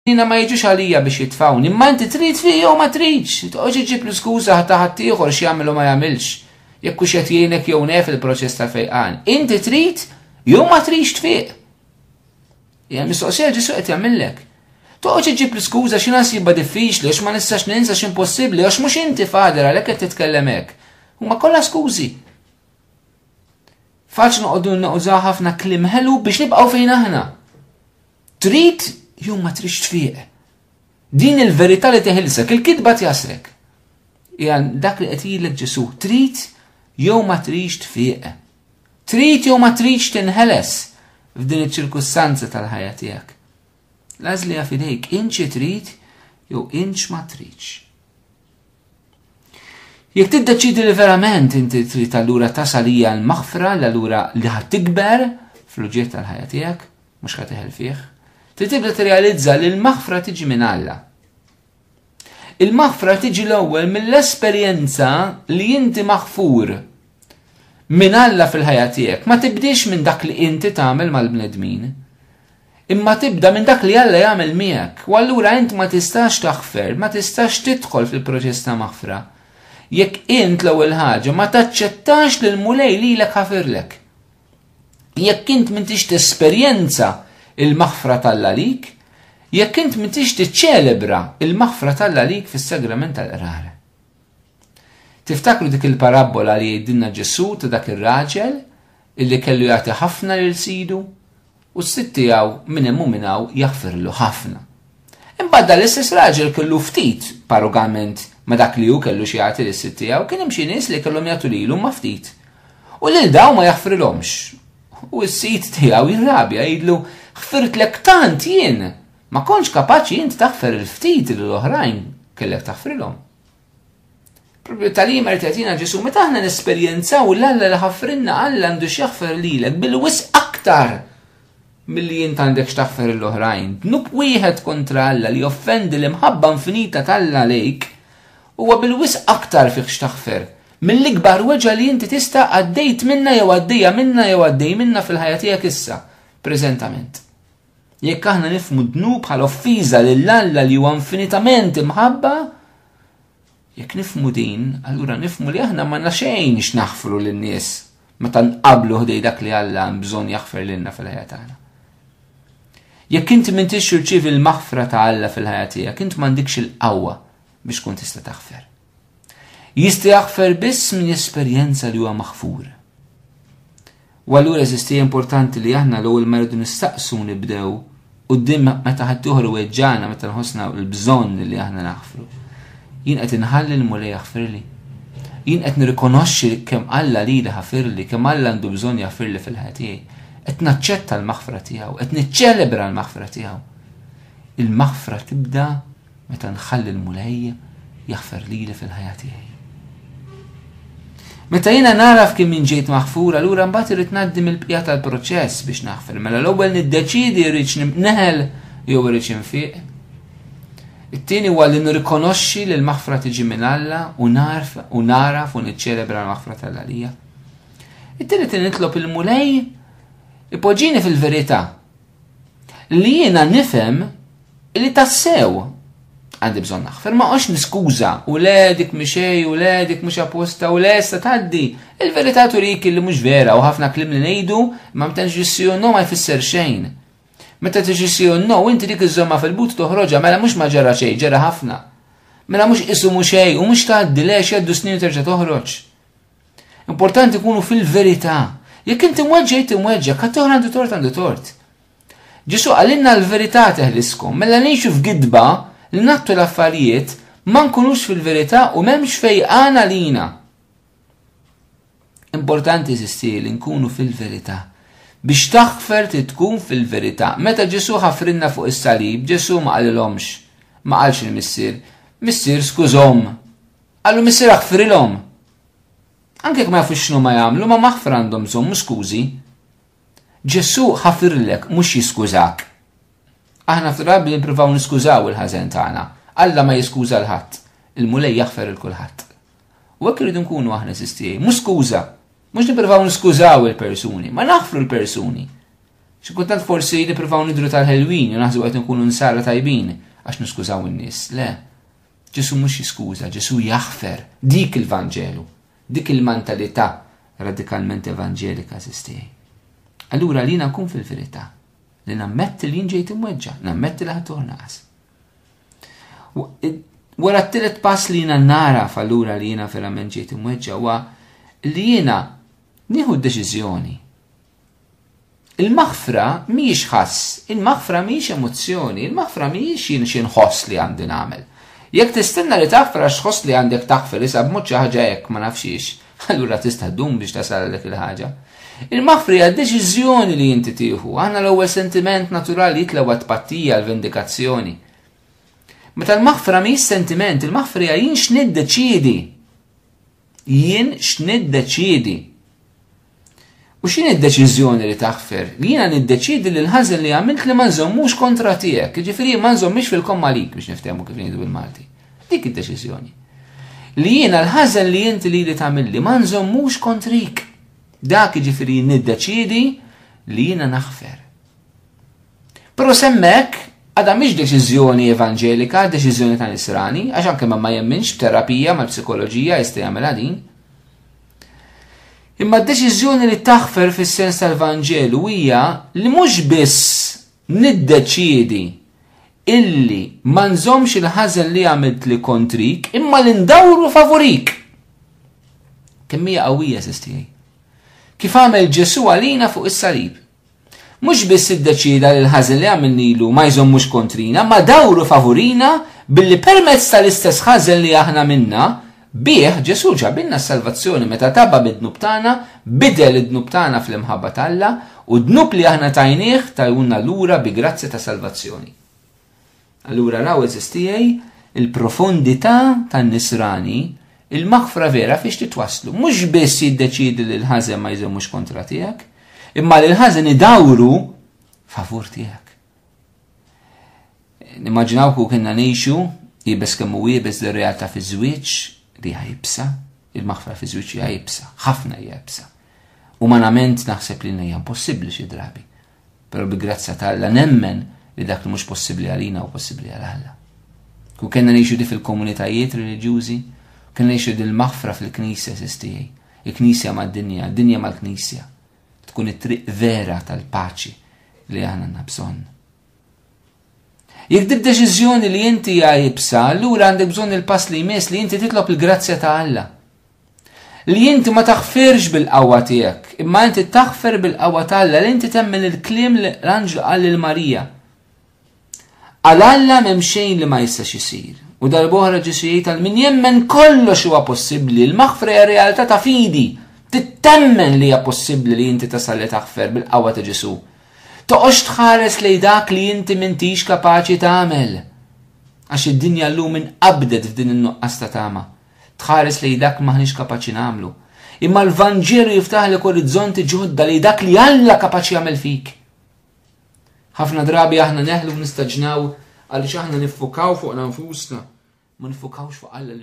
Jina ma jiġux għalija biex jitfawni, imma inti trid fi jew ma tridx, toqgħodx iġib l-iskuża ta' ħaddieħor x'jagħmel u ma jagħmilx. Jekk hux qed jgħinek jew nef il-proċess ta' fejqan, inti trid jew ma tridx tfiq. Hija mistoqsija Ġesu qed jagħmillek. Toqgħodx iġib l-iskuża xi nasibha diffiċli għax ma nistax ninsa x'impossibbli għax mhux inti fader għalhekk qed titkellem hekk. Huma kollha skużi. Faċ noqogħdu nużaw ħafna klim ħelu biex nibqgħu fejn aħna. Trid jew ma tridx tfiq. Din il-verità li teħilsek, il-kidba tjasrek. Hija dak li qed jgħidlek Ġesu, trid jew ma tridx tfiq. Trid jew ma tridx tinħeles f'din iċ-ċirkustanza tal-ħajja tiegħek. L-għażli fidejk, inċi trid jew inċ ma tridx. Jekk tiddeċidi li verament inti trid allura tasal hija l-maħfra li allura li ħad tikber fl-uġiet tal-ħajja tiegħek, mhux ħad teħel fih, trid tibda tirrealizza li l-maħfra tiġi minn Alla. Il-maħfra tiġi l-ewwel mill-esperjenza li inti maħfur minn Alla fil-ħajja tiegħek, ma tibdix minn dak li inti tagħmel mal-bnedmin. Imma tibda minn dak li Alla jagħmel miegħek, u allura int ma tistax taħfer, ma tistax tidħol fil-proċess ta' maħfra, jekk int l-ewwel ħaġa ma taċċettax li l-Mulej lilek ħafirlek. Jekk int m'intix tesperjenza il-maħfra t'Alla lik, jekk int m'intix tiċċelebra il-maħfra t'Alla lik fis-sagrament tal-qrar. Tiftakru dik il-parabbola li jgħidilna Ġesù ta' dak ir-raġel illi kellu jagħti ħafna lil sidu u s-sid tiegħu minn hemm u minn hawn jaħfirlu ħafna. Imbagħad dan l-istess raġel kellu ftit parugament ma' dak li hu kellu xi jagħti lis-sid tiegħu, kien hemm xi nies li kellhom jagħtu lilu ma' ftit. U lil dawn ma jaħfrilhomx. U s-sid tiegħu jirrabja jidlu ħfirtlek tant jien Ma kontx kapaċi int taħfer il-ftit li l-oħrajn kellek taħfrilhom. Propju tal-jiem qed jagħtina Ġesu, meta aħna nesperjenzaw l-Alla li ħafrinna Alla għandu x'jaħfer lilek bil-wis aktar milli jint għandek x'taħfer l-oħrajn. Dnub wieħed kontra Alla li offendi l-imħabba infinita tal-Alla lejk huwa bil-wis aktar fih x'taħfer mill-ikbar weġa li inti tista' għaddejt minna jew għaddejja minna jew għaddej minna fil-ħajja tiegħek issa, preżentament. Jekk aħna nifmu d-dnub bħala offiża lil Alla li huwa infinitament imħabba, jekk nifmu din, allura nifmu li aħna ma xejn x'naħfru lin-nies meta nqablu ħdej dak li Alla hemm bżonn jaħfer lilna fil-ħajja tagħna. Jekk inti m'intix irċievi l-maħfra ta' Alla fil-ħajja tiegħek, int m'għandikx il-qawwa biex tkun tista' taħfer. Jista' jaħfer biss min jesperjenza li huwa maħfur. U allura eżisti importanti li aħna l-ewwel ma rridu nistaqsu nibdew quddiem meta ħadd ieħor iweġġagħna meta nħossna l-bżonn li aħna naħfru. Jien qed inħalli l-Mulej jaħfirli. Jien qed nirrikonoxxi kemm Alla lili ħafirli, kemm Alla għandu bżonn jaħfirli fil-ħajja tiegħi. Qed naċċetta l-maħfra tiegħu, qed niċċelebra l-maħfra tiegħu. Il-maħfra tibda Meta nħalli l-Mulej jaħfer lili fil-ħajja tiegħi. Meta jiena nagħraf kien min ġejt maħfur, allura mbagħad irid ngħaddi mill-bqija tal-proċess biex naħfer. Mela l-ewwel niddeċidi rridx neħel jew irrid infiq. It-tieni huwa li nirrikonoxxi li l-maħfra tiġi minn Alla u narf u naraf u niċċelebra l-maħfra tal-Għalija. It-tieni nitlob il-Mulej ipoġġini fil-verità li jiena nifhem li tassew għandi bżonn naħfer, ma għax niskuża u le dik mixej u le dik mhux apposta u le sta tgħaddi. Il-verità turik li mhux vera u ħafna klim li ngħidu ma mtenx ġissi u no ma jfisser xejn. Meta tiġi si u no inti dik iżomma fil-but toħroġa mela mhux ma ġara xejn, ġara ħafna. Mela mhux isu mhux xejn u mhux tgħaddi le x'jaddu snin terġa' toħroġ. Importanti kunu fil-verità. Jekk inti mweġġa jt mweġġa, kat toħra għandu tort għandu tort. Ġesu għalinna l-verità teħliskom, mela ngħixu f'gidba li nattu l-affarijiet ma nkunux fil-verità u m'hemmx fejqan għalina. Importanti sisti li nkunu fil-verità. Biex taħfer ti tkun fil-verità. Meta Ġesu ħafrinna fuq is-salib, Ġesu ma qalilhomx, ma qalx il-missier, missier skużhom, Qallu missier aħfrilhom. Anke jekk ma jafux x'nhuma jagħmlu, ma maħfra għandhom bżonn mhux skużi. Ġesù ħafirlek mhux jiskużak. Aħna ftit drabi nippruvaw niskużaw il-ħażen tagħna. Alla ma jiskuża l ħadd. Il-Mulej jaħfer il kulħadd. U hekk irridu nkunu aħna sistijaj, mhux skuża. Mhux nippruvaw niskużaw il-persuni, ma naħfru l-persuni. Xi kultant forsi nippruvaw nidru tal-ħelwin u naħsbu qed nkunu nsara tajbin għax niskużaw in-nies. Le. Ġesù mhux jiskuża, Ġesù jaħfer. Dik il-Vanġelu. Dik il-mantalita' radikalment evanġelika, għażiż tiegħi. Allura li jiena nkun fil-verità, li nammetti li jien ġejt imweġġa', nammetti li ħadd naqas. Wara t-tielet pass li jiena nara fallura li jiena verament ġejt imweġġa' huwa li jiena nieħu d-deċiżjoni Il-maħfra mhijiex ħass, il-maħfra mhijiex emozzjoni, il-maħfra mhijiex jien xi nħoss li għandi nagħmel. Jekk tistenna li taħfer għax tħoss li għandek taħfer issa b'mod xi ħaġa hekk ma nafx xiex, allura tista' ddum biex tasal għal dik il-ħaġa. Il-maħfri għad deċiżjoni li inti tieħu, għandna l-ewwel sentiment naturali jitla għad pattija l-vendikazzjoni. Meta l-maħfra mi sentiment, il-maħfri għajin x'niddeċidi. Jien x'niddeċiedi? U x'in id-deċiżjoni li taħfer? Li jiena niddeċiedi li l-ħażen li għamilt li ma nżommux kontra tiegħek, jiġifieri ma nżommix fil-komma lik biex niftehmu kif ngħidu bil-Malti. Dik id-deċiżjoni. Li jiena l-ħażen li inti li li tagħmilli ma nżommux kontrik. Dak jiġifieri niddeċiedi li jiena naħfer. Però semmek għadha mhix deċiżjoni evanġelika, deċiżjoni ta' nisrani, għax anke ma jemminx b'terapija mal-psikoloġija jista' jagħmilha din. Imma d-deċiżjoni li taħfer fis-sens tal-Vanġelu hija li mhux biss niddeċiedi illi ma nżomx il-ħażen li għamilt li kontrik, imma li ndawru favorik. Kemm hija qawwija sistijaj. Kif għamel Ġesu għalina fuq is-salib. Mhux biss iddeċieda li l-ħażen li għamilnilu ma jżommux kontrina, ma dawru favurina billi permezz tal-istess ħażen li aħna minna, bih Ġesù ġabilna s-salvazzjoni meta taba mid-dnub tagħna, bidel id-dnub tagħna fl-imħabba t'Alla, u d-dnub li aħna tajnieh tajunna lura bi grazzja ta' salvazzjoni. Allura raw eżis tiegħi il-profondità tan-nisrani, il-maħfra vera fiex titwasslu. Mhux biss jiddeċiedi li l-ħażen ma jżommux kontra tiegħek, imma li l-ħażen idawru favur tiegħek. Nimmaġinaw ku kienna ngħixu jibes kemm u jibes li realtà fi żwieġ li jibsa, il-maħfra fi żwieġ jibsa, ħafna jibsa. Umanament naħseb li hija impossibbli xi drabi. Però bi grazzja ta' Alla nemmen li dak li mhux possibbli għalina u possibbli għal Alla. Ku kellna ngħixu di fil-komunitajiet reliġjużi, kellna ngħixu di l-maħfra fil-Knisja sistijaj, il-Knisja mad-dinja, dinja mal-Knisja. Tkun it-triq vera tal-paċi li aħna nabżon. Jekk dib deċiżjoni li inti għajibsa, allura għandek bżonn il-pass li jmiss li inti titlob il-grazzja ta' Alla. Li inti ma taħfirx bil-qawwa tiegħek, imma inti taħfer bil-qawwa ta' Alla, li inti temmen il-kliem li l-anġlu qal lil Marija. Għal Alla m'hemm xejn li ma jistax isir. U darb'oħra Ġesu jgħid għal min jemmen kollox huwa possibbli, l-maħfra hija realtà ta' fidi. Tittemmen li hija possibbli li inti tasal li taħfer bil-qawwa ta' Ġesu. Toqgħodx tħares lej dak li inti m'intix kapaċi tagħmel. Għax id-dinja llum inqabdet f'din in-nuqqas ta' tama. tħares lejn dak li m'aħniex kapaċi nagħmlu. Imma l-Vanġelu jiftaħlek orizzonti ġodda li dak li Alla kapaċi jagħmel fik. Ħafna drabi aħna neħlu nistaġnaw għaliex aħna niffukaw fuq nfusna, ma nifukawx fuq Alla